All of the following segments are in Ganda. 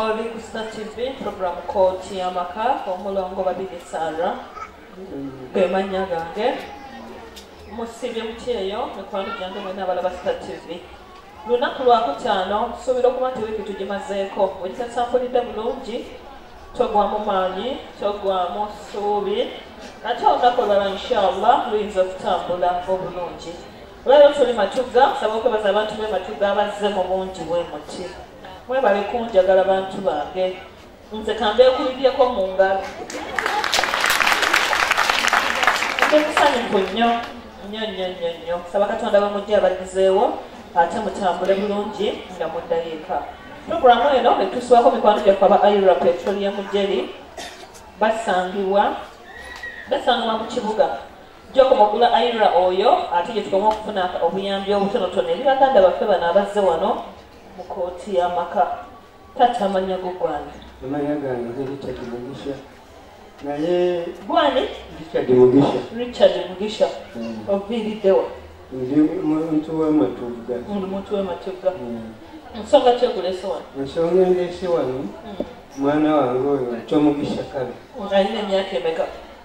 Oli ku Star TV program kooti y'amaka omulongo babiri Sarah ge mannya gange musibye mutyeyo mikwano gyange mwena abalaba Star TV lunaku lwakutaano tusuubira okuba nti wiiki tugimazeeko bwekitasampulidde bulungi togwamu maanyi togwamu ssuubi ate olunaku olwala inshallah luyinza okutambula obulungi Olwaleero tuli Matugga, nsaba okwebaza abantu b'e Matugga abazze mu bungi bwe muti. Mwebale kunjagala bantu bange, nze kambeekulibyeko mu ngalo. Ndi musanyufu nnyo nnyo nnyo nnyo nnyo. Nsaba Katonda bamujje abadizeewo ate mutambule bulungi nga muddayo eka. Pulogulaamu eno etuusibwako mikwano gyaffe aba Ira Petroleum Jelly basangibwa basangibwa mu kibuga Jacob Ogula Aira oyo ate gye tukoma okufuna obuyambi obutonotono eri baganda baffe bano abazze wano mu kooti y'amaka tatta amannya go gwani amannya gange ge richard mugisha naye gwani richard mugisha richard mugisha hmm. oviiriddewa ndi muntu w'amatugga ndi muntu w'amatugga hmm. nsonga ki ekulese wano ensonga endeese wano hmm. mwana wange oyo kyomugisha kabi alina emyaka emeka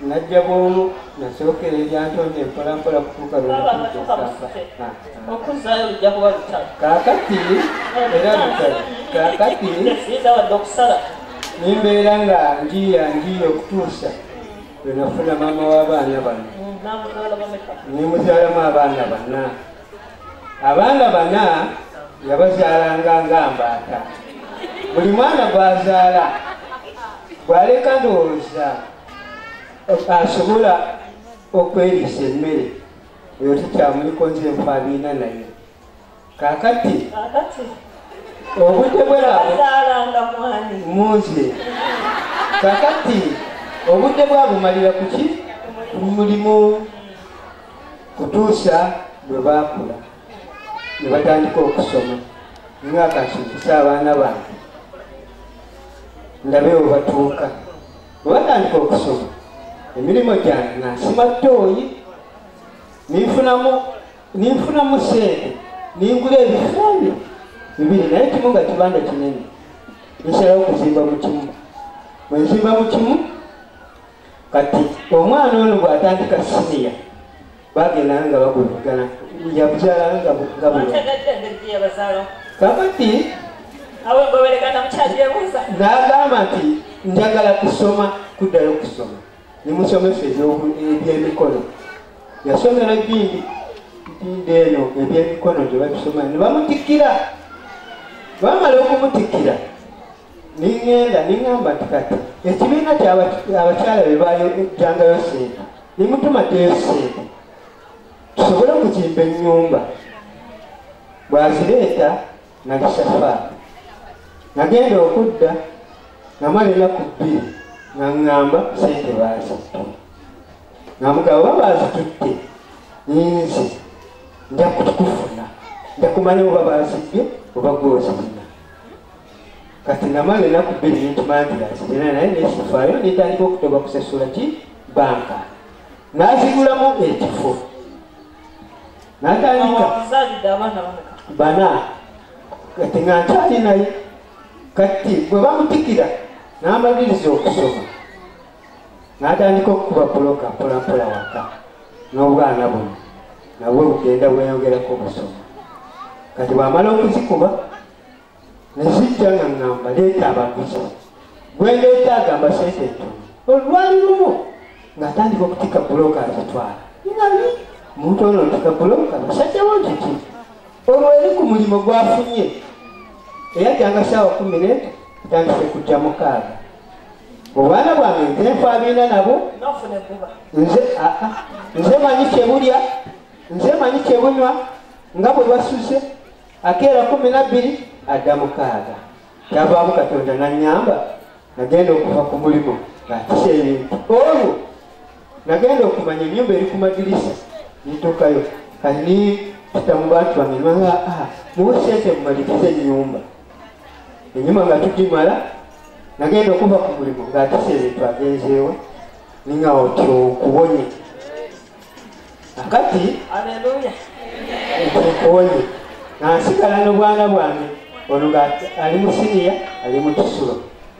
najja bwomu nasookera ebyantonde mpolampola kutuuka lwokuzaayo lujja kuba lutalo kakati era lutalo kakati yinza wadde okusala nimbeera nga njiya njiya okutuusa lwenafuna maama w'abaana bano mm, nemuzaalamu abaana bana abaana bana yabazaalanga nga mbaata buli mwana gwazaala gwaleka ndowooza asobola okweriisa emmere eyo tekyamuliko nze nfaabiina naye kakati obudde bwelamunze kakati obudde bwabumalira kuki mulimu kutuusa bwe baakula ne batandika okusoma nga kasomesa abaana bange ndabe webatuuka bwe batandika okusoma emirimu gyange nga nsima ttooyi ninfunamu ninfunamu sente ningula ebifaani bibiri naye kimu nga kibanda kinene nsalawo okuzimba mu kimu bwe nzimba mu kimu kati omwana ono bw'atandika siniya bagenda nga bakulikana yabukyala nga kakati nagamba nti njagala kusoma kuddayo okusoma nemusomesa ebyemikono yasomera bingi ntinda eno ebyemikono gyebabisoma nebamutikira bamala okumutikira ningenda ningamba nti kati ekibiina kyabakyala bebajangayo sente nemutuma teesente tusobole okuzimba ennyumba bwazireeta nalisafa nagenda okudda namala enaku bbiri naŋŋamba sente baazittu namugaba oba baazitutte ninze nja kukufuna nja kumanya oba baazibbye oba gwozirina kati namala enaku bbiri nentumangiras era naye nesifaayo netandika okutoba kusasula ki banka nazigulamu ekifo natandika bana kati nga nkyali naye kati bwe bamutikira namagiriza okusoma natandika okukuba buloka mpolampola waka n'obwana buno nabwe bugenda bweyongerako obusoma kati bwamala okuzikuba nezijja nga ŋŋamba leeta abaguzi gwendeeta agamba sente entono olwali lumu ng'atandika okutika bulooka azitwala nali muntu ono ntika bulooka musajjawo nkiki olwo eri ku mulimu gwafunye eyajjanga saawa kumi ne atandise kujja mukaaga obwana bwange nze nfaabiina nabo nze aa nze manyi kyebulya nze manyi kyebunywa nga bwe basuze akeera kumi nabbiri adda mukaaga kyavaamu katonda nanyamba nagenda okuva ku mulimu ngaatisa ebintu olwo nagenda okumanya enyumba eri ku madirisa nituukayo kani tutamu bantu bange nanga ah, muwe sente mumalikize enyumba enyuma nga tugimala nagenda okuva ku mulimu ngaatisa ebintu agenzeewa ninga otyo okubonye akati aleluya nkuwoye nansigala nobwana bwange ono nga ali mu siniya ali mu kisulo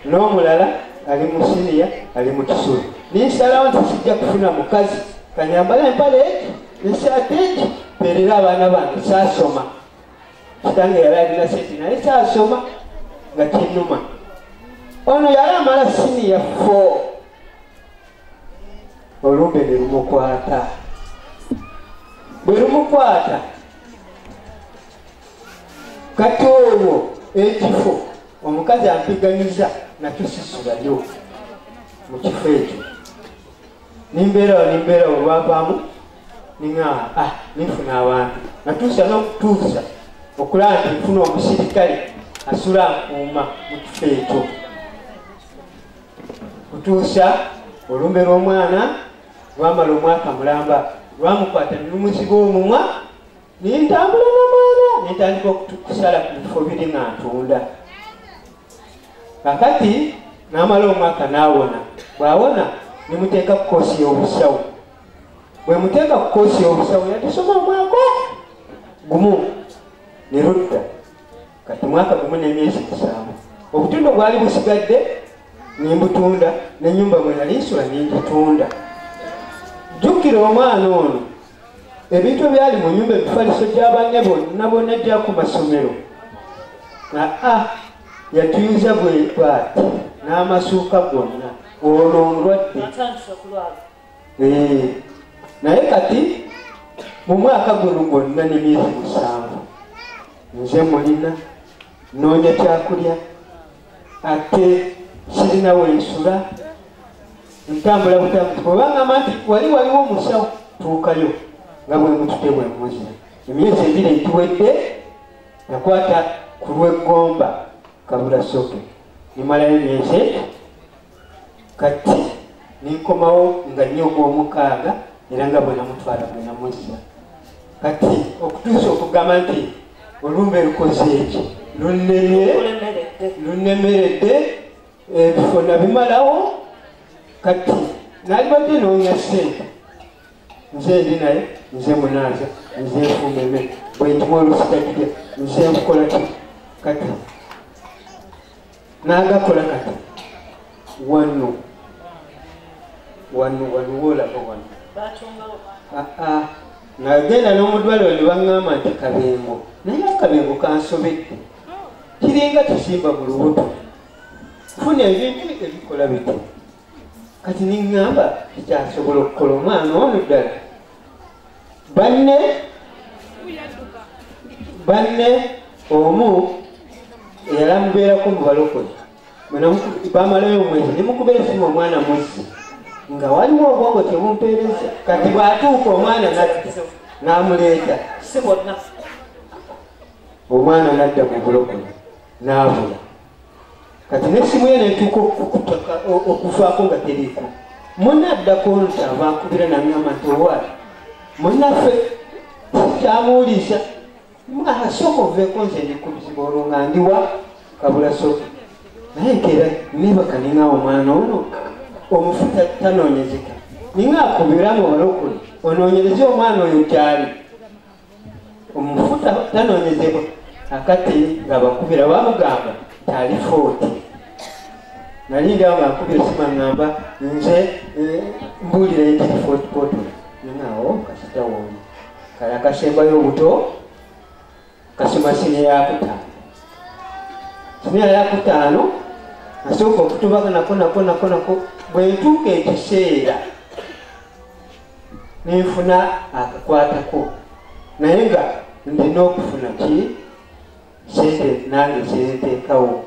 n'omulala ali mu siniya ali mu kisulo ninsalawo nti sijja kufuna mukazi kanyambala empale eki nesaati eki mperera abaana bange saasoma kitange yali alina sente naye saasoma nga kinuma ono yali amala siniya four olumbe ne lumukwata bwe lumukwata kati olwo ekifo omukazi ampiganyiza nakyo sisulayo mu kifo ekyo nimbeerawo nimbeerawo olwavaamu niŋa ah, ninfuna abantu natuusa n'okutuusa okulaba nti nfuna omusirikale asula akuuma mu kifo ekyo kutuusa olumbe lw'omwana lwamala omwaka mulamba lwamukwata nelumuziba omumwa nentambula namwana nentandika okukusala ku bifo biri nga ntunda kakati namala omwaka nawona bwawona nemuteeka ku koosi y'obusawo bwemuteeka ku koosi y'obusawo yatusoma omwaka gumu ne ludda kati mwaka gumu n'emyezi musanvu obutundu bwali busigadde nembutunda nenyumba mwenalinsula nengitunda jjukira omwana ono ebintu ebyali mu nyumba ebifaliso gyabanne bonna bonna gya ku masomero aa yatuyinza bwebwati n'amasuuka gonna ono omulwadde eh, naye kati mu mwaka guno gwonna ne myezi musanvu nze mulina noonya kyakulya ate sirina wensula ntambula butambuti bwebangamba nti wali waliwo omusawo tuukayo nga bwemutute bwemuzi emyezi ebiri egiwedde nakwata ku lweggomba kabula soke nimalayo emyezi kati nenkomawo nga nnyo ogw'omukaaga era nga bwenamutwala bwenamuzza kati okutuusa okugamba nti olumbe lukoze eki lunemye lunemeredde ebifo eh, nabimalawo kati nalibadde noonya sente nze ndi naye nze munaaza nze nfumeme bwendimu olusigagide nze nkukola ti kati nagakola kati wano wano wano wolaba wano ah, ah. nagenda n'omudwaliro ne baŋŋamba nti kabengo naye akabengo kansobedde kiringa kisimba mu lubuto funa ebintu ebikola biti kati neŋŋamba ekyasobola okukola omwana ono ddala banne banne omu eyala mubeerako mubalokole bamalayo omwezi nemukubeera esimu omwana mwezi nga waliwo obwongo tebumpeereza kati bwatuuka omwana natti n'amuleeta si bonna omwana nadda mu bulokole n'abula kati nesimu ye netuuka okukutaka okuvaako nga teriiko muna addako nti avankubira nangamba nti owaali munaffe kyamuwuliisa asooka oveeko nze ndikubizibwa olwo nga ndiwa kabula soka naye nkeera nebaka ninga omwana ono omufuta tanoonyezeka ninga akubiramu balokole onoonyereze omwana oyo gyali omufuta tanonyezebwa akati nga bakubira bamugamba tali footi nali ndi awo ngakubira esima ngamba nze eh, mbuulira ekiri footi poto naawo kasita woli kala kasembayo obuto kasima sine yakutaano sine yakutaano asooka okutubaka nako nako nako nako bwentuuka ekiseera nenfuna akakwatako naye nga ndina okufuna ki sente nange zenteekawo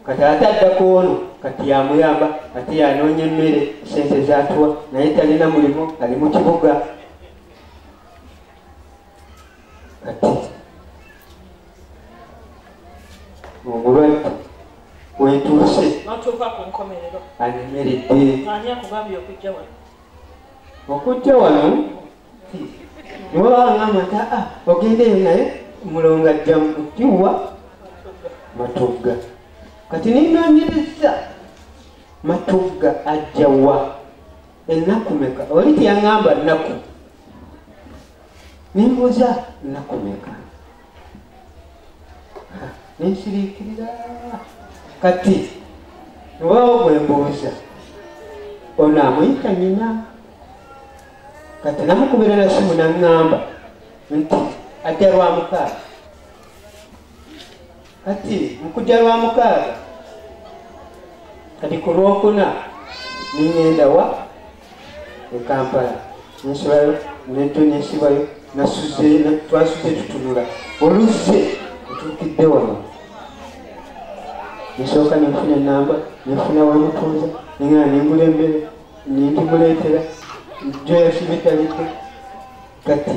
kati ate addako ono kati yamuyamba ate yanoonya emmere sente zatuwa naye talina mulimu ali mu kibuga kati omulwadde wetuuse anemeredde okujja wano newabanga amata ah, ogendeyo naye mulonga ajja mukiwa matugga kati nenonyereza matugga ajja wa ennaku meka oli teyaŋamba nnaku nembuuza nnaku meka nensirikirira kati wewawo gwembuuza ono amuyita nyina kati namukubira nasimu naŋŋamba nti ajja lwa mukaaga kati mukujja lwa mukaaga kati ku lwokuna niŋenda wa e kampala nsulayo netonesibayo twasuze tutunula oluzze otuukidde wano nsooka nenfuna enamba nenfuna wamutuuza nengana nengula embere nindimuleetera joyasibitalidde kati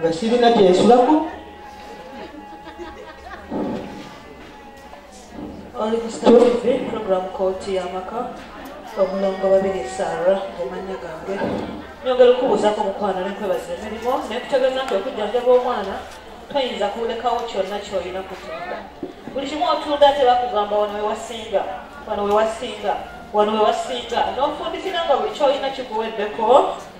nga sirina kyensulako oli ku star tv program kooti yamaka omulongo babiri sara omanya gange nyongera okubuuzako mukwano nenkwebaza emirimu nekutegeeza nti okujjanjaba omwana toyinza kulekawo kyonna kyoyina kutunda buli kimu otunda ate bakugamba wano wewasinga wano wewasinga wano wewasinga nofundikira nga buli kyoyina kikuweddeko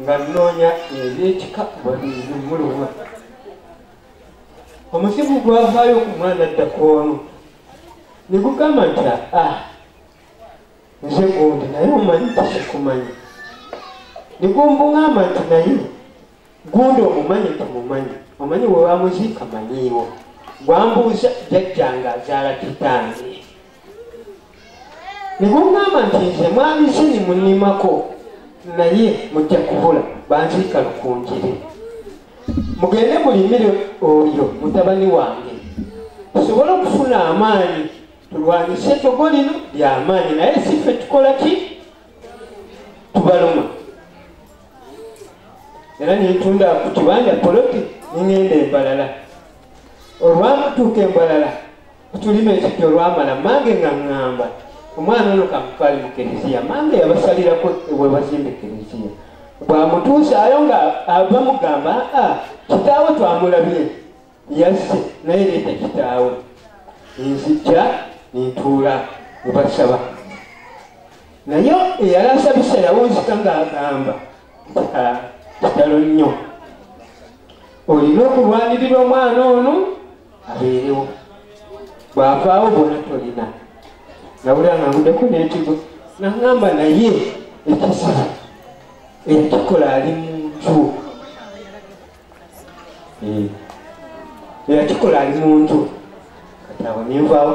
nga nnoonya ebyekika wabizi muluma omuzimu gwavaayo ku mwana ddakoonu ne gugamba nti a ah, nze gundi naye omanyi tisikumanya ne gumbungamba nti naye gundi omumanyi tumumanyi omanyi webamuziika manyiiwo gwambuuza jajjanga azaala kitange ne bwomugamba nti nze mwami sini munimako naye mujja kubula banziika lukunjire mugende mulimire oyo mutabani wange tusobole okufuna amaanyi tulwanyise etogo lino lyamaanyi naye si ffe tukola ki tubaluma era nentunda ku kibanja poloti ningenda embalala olwamutuuka embalala tulima ekijja olwamala mange nga ŋŋamba omwana ono kamutwali mu kereziya mange yabasalirako webazimba ekereziya bwamutuusaayo nga bamugamba a kitaawe twamulabye yazze naye leeta kitaawe nzijja nentuula nebasaba naye eyali asabisa yawunzika ng'agamba kitalo nnyo olina okulwanirira omwana ono abeerewo bwavaawo bona tolina nawulira nga ngudeko netigo nangamba naye ekizibu eyakikola ali muntu eyakikola ali muntu kati awo ninvaawo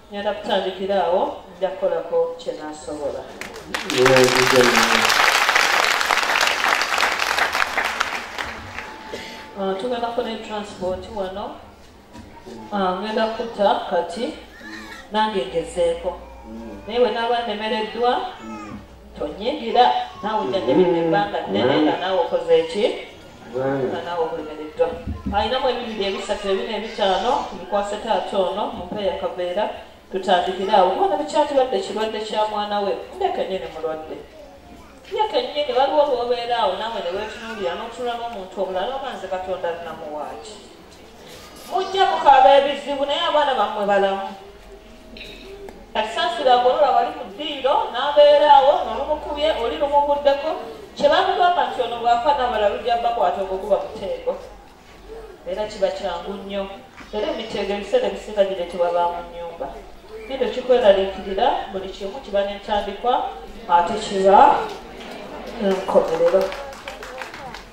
ngenda kutandikira awo nja kukolako kyenasobola ah, tugenda kukola etransport wano ah, ngenda kuta kati nange ngezeeko naye wenaaba nemereddwa tonyigira naawe jajabira ebbanga nnene nga naawe okoze ki alinamu ebibiri ebisatu ebina ebitaano bikwase taata ono mumpe yakabeera tutandikire awo kubona bikyatibadde kirwadde kya mwana we nde kenyini mulwadde ye kenyini waliwo lwobeera awo nawe newetunuulira notunula n'omuntu obulala oba nze katonda alinamuwaaki mujja mukaaba ebizibu naye abaana bammwe balamu kasasira agolola wali ku ddiiro n'abeeraawo nolumukubye oli lumuguddeko kyebamugamba nti ono bwafa nabala lujja bakwata okukuba muteego era kiba kyangu nnyo era emiteego ebiseera ebisinga giretebwa ba mu nnyumba kino kikweraliikirira buli kimu kiba nentandikwa ate kiba enkomerero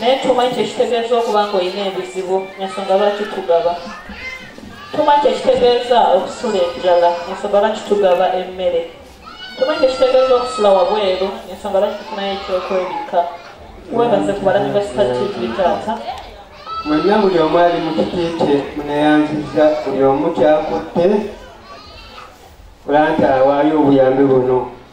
naye tumanyi kyekitegeeza okuba nga olina ebizibu ensonga lwaki tugaba tumanyi kyekitegeeza okusula enjala ensonga lwaki tugaba emmere tumanyi kyekitegeeza okusula wabweru ensonga lwaki tufunayo ekyokwebikka webaze ku balabi ba sita tv taata mwenna buli omu ali mu kitiikye muneyanziza buli omu kyakutte kulanta awaayo obuyambi buno